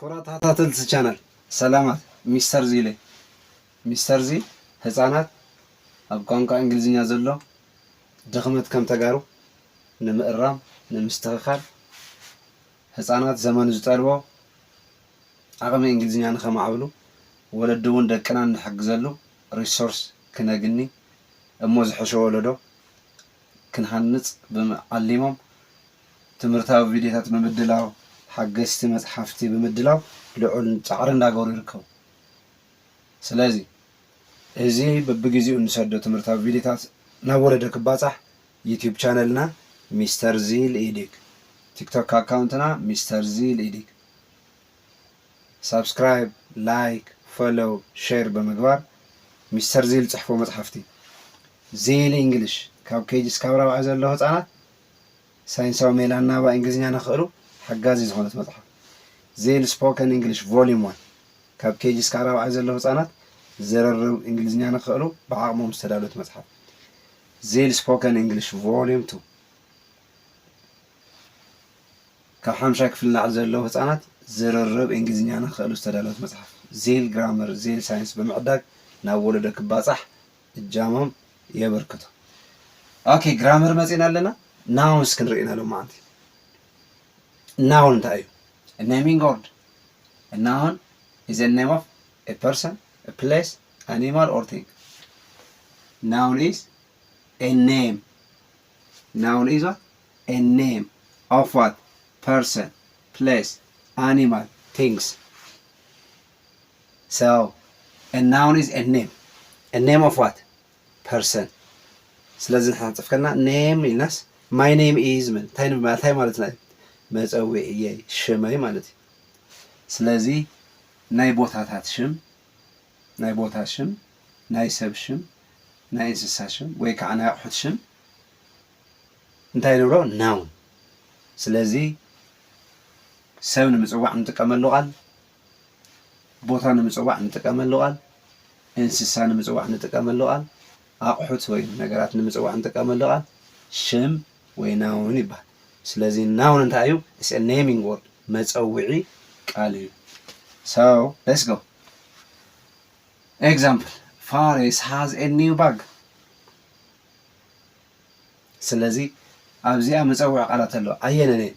ክብራት ተኸታተልቲ ቻነል ሰላማት ሚስተር ዚለይ ሚስተር ዚ ህጻናት ኣብ ቋንቋ እንግሊዝኛ ዘሎ ድኽመት ከም ተጋሩ ንምእራም ንምስትኽኻል ህጻናት ዘመኑ ዝጠልቦ ዓቕሚ እንግሊዝኛ ንኸማዕብሉ ወለዲ እውን ደቅና እንሕግዘሉ ሪሶርስ ክነግኒ እሞ ዝሐሸ ወለዶ ክንሃንጽ ብም ዓሊሞም ትምህርታዊ ቪድዮታት ብምድላው፣ ሓገዝቲ መፅሓፍቲ ብምድላው ልዑል ፃዕሪ እንዳገበሩ ይርከቡ። ስለዚ እዚ በብግዚኡ እንሰዶ ትምህርታዊ ቪድዮታት ናብ ወለዶ ክባፃሕ ዩቲዩብ ቻነልና ሚስተር ዚል ኢዲግ፣ ቲክቶክ ኣካውንትና ሚስተር ዚል ኢዲግ ሳብስክራይብ፣ ላይክ፣ ፎሎው፣ ሼር ብምግባር ሚስተር ዚል ፅሕፎ መፅሓፍቲ፣ ዚል ኢንግሊሽ፣ ካብ ኬጂ እስካብ ራብዓይ ዘለዉ ህፃናት፣ ሳይንሳዊ ሜላ ኣናባቢ እንግሊዝኛ ንኽእሉ ሓጋዚት ዝኾነት መጽሓፍ፣ ዜል ስፖከን እንግሊሽ ቮሊዩም ዋን፣ ካብ ኬጂ እስካዕ ራብዓይ ዘለዉ ህጻናት ዝርርብ እንግሊዝኛ ንኽእሉ ብዓቕሞም ዝተዳለወት መጽሓፍ፣ ዜል ስፖከን እንግሊሽ ቮሊዩም ቱ፣ ካብ ሓምሻይ ክፍሊ ንላዕሊ ዘለዉ ህጻናት ዝርርብ እንግሊዝኛ ንኽእሉ ዝተዳለወት መጽሓፍ፣ ዜል ግራመር፣ ዜል ሳይንስ ብምዕዳግ ናብ ወለዶ ክባጻሕ እጃሞም የበርክቱ። ኦኬ ግራመር መጺና ኣለና ናውን እስኪ ንርእና ሎማዓንቲ ናውን እንታይ እዩ ኔሚንግ ወርድ ናውን ኢዝ ኤ ኔም ኦፍ ኤ ፐርሰን ኤ ፕሌስ ኣኒማል ኦር ቲንግ ናውን ኢዝ ኤ ኔም ናውን ኢዝ ዋት ኤ ኔም ኦፍ ዋት ፐርሰን ፕሌስ ኣኒማል ቲንግስ so a noun is a name a name of what person ስለዚ ንሕና ክንጽሕፍ ከለና name ኢልናስ my name is ንብል እንታይ ንብል ማለት እንታይ ማለትና እዩ መጸዊዕየይ ሽመይ ማለት እዩ ስለዚ ናይ ቦታታት ሽም ናይ ቦታ ሽም ናይ ሰብ ሽም ናይ እንስሳ ሽም ወይ ከዓ ናይ ኣቑሑት ሽም እንታይ ንብሎ ናውን ስለዚ ሰብ ንምጽዋዕ ንጥቀመሉ ቃል ቦታ ንምፅዋዕ እንጥቀመሉ ቃል፣ እንስሳ ንምፅዋዕ እንጥቀመሉ ቃል፣ ኣቑሑት ወይ ነገራት ንምፅዋዕ እንጥቀመሉ ቃል ሽም ወይ ናውን ይበሃል። ስለዚ ናውን እንታይ እዩ? ኢትስ ኤ ኔሚንግ ወርድ፣ መፀውዒ ቃል እዩ። ሶ ሌትስ ጎ ኤግዛምፕል ፋሬስ ሃዝ ኤ ኒው ባግ። ስለዚ ኣብዚኣ መፀውዒ ቃላት ኣለዋ። ኣየነን እየን?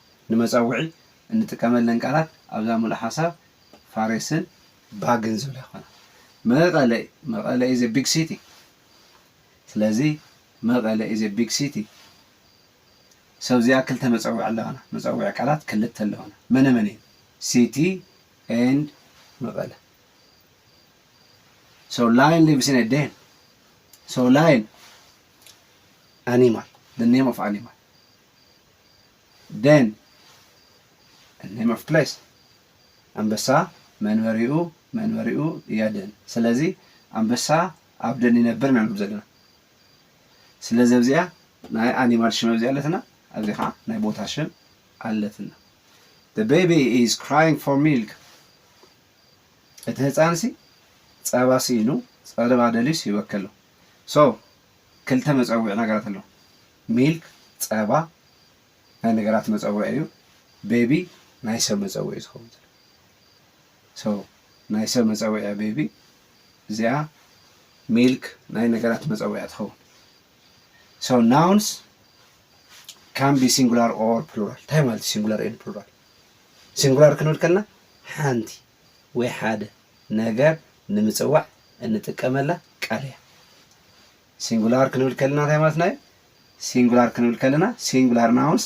ንመጸውዒ እንጥቀመለን ቃላት ኣብዛ ምሉእ ሓሳብ ፋሬስን ባግን ዝብላ ይኾና። መቐለ መቐለ ኢዝ ኤ ቢግ ሲቲ ስለዚ መቐለ ኢዝ ኤ ቢግ ሲቲ ሰብ እዚኣ ክልተ መጸውዒ ኣለዋና። መጸውዒ ቃላት ክልተ ኣለዋና። መነ መን እየን? ሲቲ ኤንድ መቐለ So lion lives in a den. So lion, animal, the name of animal. ዴን፣ a name of place፣ ኣንበሳ መንበሪኡ፣ መንበሪኡ፣ እያ ዴን። ስለዚ ኣንበሳ ኣብ ዴን ይነብር ኢና ንብል ዘለና። ስለዚ ኣብዚኣ ናይ ኣኒማል ሽም ኣብዚኣ ኣለትና፣ ኣብዚ ኸዓ ናይ ቦታ ሽም ኣለትና። The baby is crying for milk። እቲ ህፃንሲ ፀባ ስኢኑ ፀባ ደልዩ ስሂበኪ ኣሎ። So ክልተ መጸውዒ ነገራት ኣለዉ። ሚልክ፣ ጸባ፣ ናይ ነገራት መጸውዒ እዩ። ቤቢ ናይ ሰብ መጸውዒ እዩ ዝኸውን ዘሎ። ሶ ናይ ሰብ መጸውዒ እያ ቤቢ። እዚኣ ሚልክ ናይ ነገራት መጸውዒ እያ ትኸውን። ሶ ናውንስ ካን ቢ ሲንጉላር ኦር ፕሉራል። እንታይ ማለት እዩ ሲንጉላር ኤንድ ፕሉራል? ሲንጉላር ክንብል ከለና ሓንቲ ወይ ሓደ ነገር ንምጽዋዕ እንጥቀመላ ቃል እያ። ሲንጉላር ክንብል ከለና እንታይ ማለትና እዩ? ሲንጉላር ክንብል ከለና ሲንጉላር ናውንስ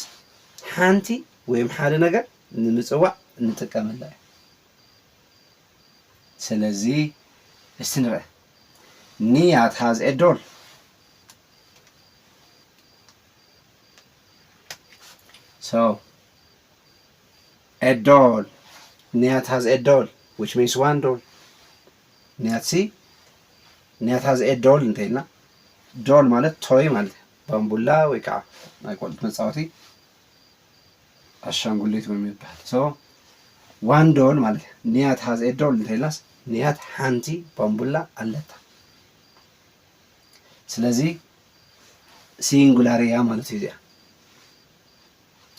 ሓንቲ ወይም ሓደ ነገር ንምጽዋዕ እንጥቀመላ እዩ። ስለዚ እስቲ ንርኣ ኒያት ሃዝ ኤ ዶል ሰው a doll Niyat has a doll which means one doll Niyat si Niyat has a doll እንተይልና ዶል ማለት ቶይ ማለት ባምቡላ ወይ ከዓ ናይ ቆልዑት መፃወቲ ኣሻንጉሊት ወይ ይበሃል ሶ ዋን ዶል ማለት ንያት ሃዝ ኤ ዶል እንተይልናስ ንያት ሓንቲ ባምቡላ ኣለታ ስለዚ ሲንጉላር እያ ማለት እዩ እዚኣ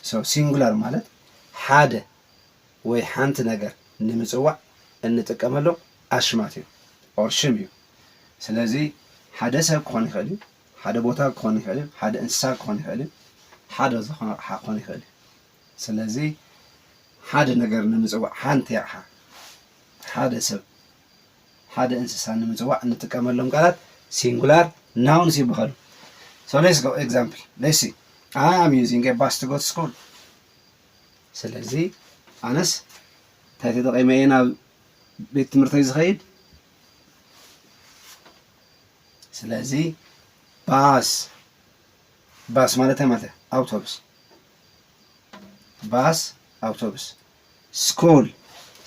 So ሲንጉላር ማለት ሓደ ወይ ሓንቲ ነገር ንምጽዋዕ እንጥቀመሎም ኣሽማት እዮም or ሽም እዩ። ስለዚ ሓደ ሰብ ክኾን ይኽእል እዩ፣ ሓደ ቦታ ክኾን ይኽእል እዩ፣ ሓደ እንስሳ ክኾን ይኽእል እዩ፣ ሓደ ዝኾነ ኣቕሓ ክኾን ይኽእል እዩ። ስለዚ ሓደ ነገር ንምጽዋዕ ሓንቲ ኣቕሓ፣ ሓደ ሰብ፣ ሓደ እንስሳ ንምጽዋዕ እንጥቀመሎም ቃላት ሲንጉላር ናውንስ ይብሀሉ። So let's go example let's see I am using a bus to go to school ስለዚ ኣነስ እንታይ ተጠቒመ እየ ናብ ቤት ትምህርተይ ዝኸይድ ስለዚ ባስ ባስ ማለት እንታይ ማለት እዩ ኣውቶቡስ ባስ ኣውቶቡስ ስኩል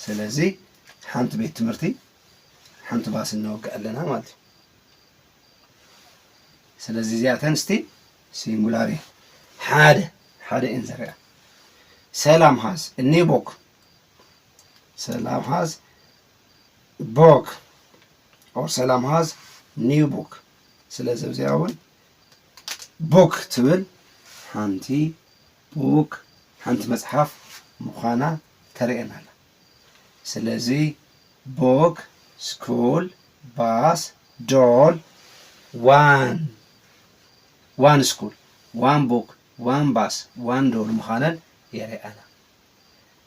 ስለዚ ሓንቲ ቤት ትምህርቲ ሓንቲ ባስ እነወግዕ ኣለና ማለት እዩ ስለዚ እዚኣተን እስቲ ሲንጉላር እየ ሓደ ሓደ እየን ዘርያ ሰላም ሃዝ እኔ ቦክ ሰላም ሃዝ ቦክ ኦር ሰላም ሃዝ ኒው ቦክ ስለዚ እዚኣ እውን ቦክ ትብል ሓንቲ ቡክ ሓንቲ መጽሓፍ ምዃና ተርእየና ኣላ። ስለዚ Book፣ School፣ Bus፣ Doll፣ One፣ One School፣ One Book፣ One Bus፣ One Doll ምዃነን የርእያና።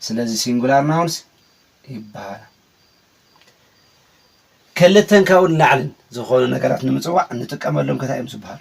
ስለዚ ሲንጉላር ናውንስ ይበሃላ። ክልተን ካብኡ ንላዕልን ዝኾኑ ነገራት ንምጽዋዕ እንጥቀመሎም ከታይ እዮም ዝበሃሉ?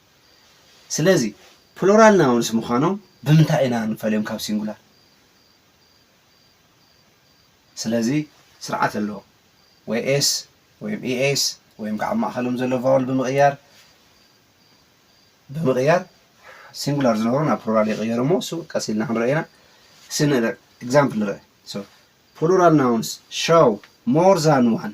ስለዚ ፕሉራል ናውንስ ምዃኖም ብምንታይ ኢና ንፈልዮም ካብ ሲንጉላር? ስለዚ ስርዓት ኣለዎ። ወይ ኤስ ወይም ኢኤስ ወይም ከዓ ኣብ ማእኸሎም ዘሎ ቫወል ብምቕያር ብምቕያር ሲንጉላር ዝነበሩ ናብ ፕሉራል ይቕየሩ እሞ እሱ ቀስ ኢልና ክንሪኦ ኢና። እስኪ ንርኢ ኤግዛምፕል ንርኢ። ፕሉራል ናውንስ ሾው ሞር ዛን ዋን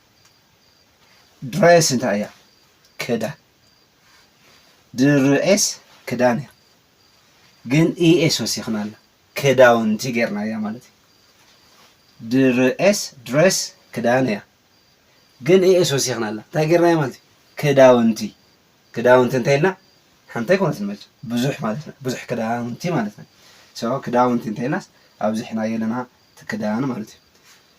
ድሬስ እንታይ እያ? ክዳን። ድሬስ ክዳን እያ። ግን ኢኤስ ወሲኽና ኣላ ክዳውንቲ ጌርና እያ ማለት እዩ። ድሬስ ድሬስ ክዳን እያ። ግን ኢኤስ ወሲኽና ኣላ እንታይ ጌርና እያ ማለት እዩ? ክዳውንቲ ክዳውንቲ እንታይ ኢልና ሓንቲ ኣይኮነትን መ ብዙሕ ማለት ና ብዙሕ ክዳውንቲ ማለት ና ክዳውንቲ እንታይ ኢልናስ ኣብዚሕናዮ ኣለና ክዳን ማለት እዩ።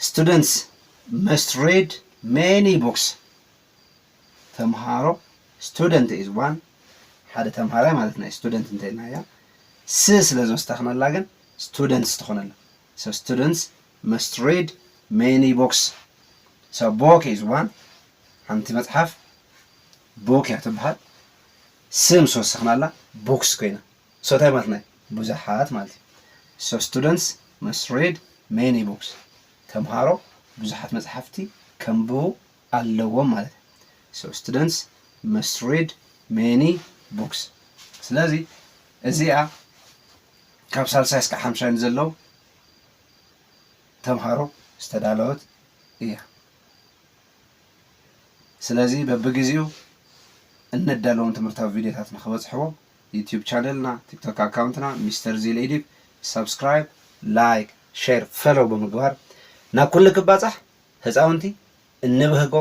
ስቱደንትስ መስት ሪድ ሜኒ ቡክስ ተምሃሮ ስቱደንት ኢዝ ዋን ሓደ ተምሃራይ ማለት ናይ ስቱደንት እንተኢልናያ ስ ስለ ዝወሰኽናላ ግን ስቱደንትስ ትኾነልና ሶ ስቱደንትስ መስት ሪድ ሜኒ ቡክስ ሶ ቦክ ኢዝ ዋን ሓንቲ መፅሓፍ ቦክ እያ ትበሃል ስ ምስ ወሰኽናላ ቡክስ ኮይና ሰታይ ማለት ናይ ብዙሓት ማለት እዩ። So students must read many books ተምሃሮ ብዙሓት መጽሓፍቲ ከንብቡ ኣለዎም ማለት እዩ። So students must read many books ስለዚ እዚኣ ካብ ሳልሳይ እስከ ሓምሻይ ንዘለዉ ተምሃሮ ዝተዳለወት እያ። ስለዚ በብግዜኡ እነዳለዎም ትምህርታዊ ቪድዮታት ንክበጽሕዎ ዩቱብ ቻነልና ቲክቶክ ኣካውንትና ሚስተር ዚል ኢዲብ ሳብስክራይብ ላይክ ሸር ፈሎው ብምግባር ናብ ኩሉ ክባጻሕ ህጻውንቲ እንብህጎ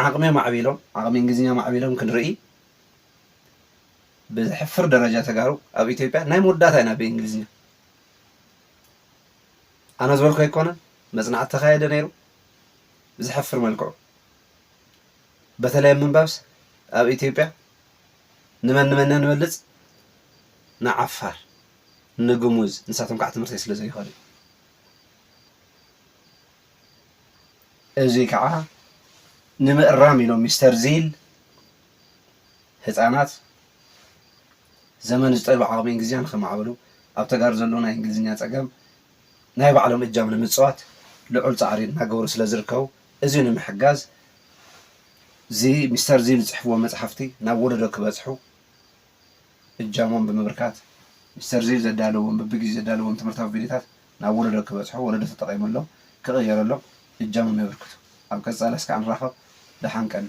ዓቕሚዮም ኣዕቢሎም ዓቕሚ እንግሊዝኛ ኣማዕቢሎም ክንርኢ ብዘሕፍር ደረጃ ተጋሩ ኣብ ኢትዮጵያ ናይ መወዳእታ ኢና ብእንግሊዝኛ ኣነ ዝበልኩ ኣይኮነን መጽናዕቲ ተኻየደ ነይሩ ብዘሕፍር መልክዑ በተለይ ምንባብስ ኣብ ኢትዮጵያ ንመን ንመን ኢና ንበልጽ ንዓፋር ንግሙዝ ንሳቶም ካዓ ትምህርተይ ስለ ዘይኮነ እዩ እዙይ ካዓ ንምእራም ኢሎም ሚስተር ዚል ህፃናት ዘመን ዝጠልቦ ዓቅሚ እንግሊዝኛ ንከማዕብሉ ኣብ ተጋሩ ዘለዎ ናይ እንግሊዝኛ ፀገም ናይ ባዕሎም እጃም ንምፅዋት ልዑል ፃዕሪ እናገበሩ ስለ ዝርከቡ እዚ ንምሕጋዝ እዚ ሚስተር እዚ ዝጽሕፍዎ መጽሓፍቲ ናብ ወለዶ ክበጽሑ እጃሞም ብምብርካት ሚስተር እዚ ዘዳለዎም በብጊዜኡ ዘዳለዎም ትምህርታዊ ቪድዮታት ናብ ወለዶ ክበጽሑ ወለዶ ተጠቒመሎም ክቕየረሎም እጃሞም የበርክቱ። ኣብ ቀጻሊ እስከ ንራኸብ ደሓን ቀኒ።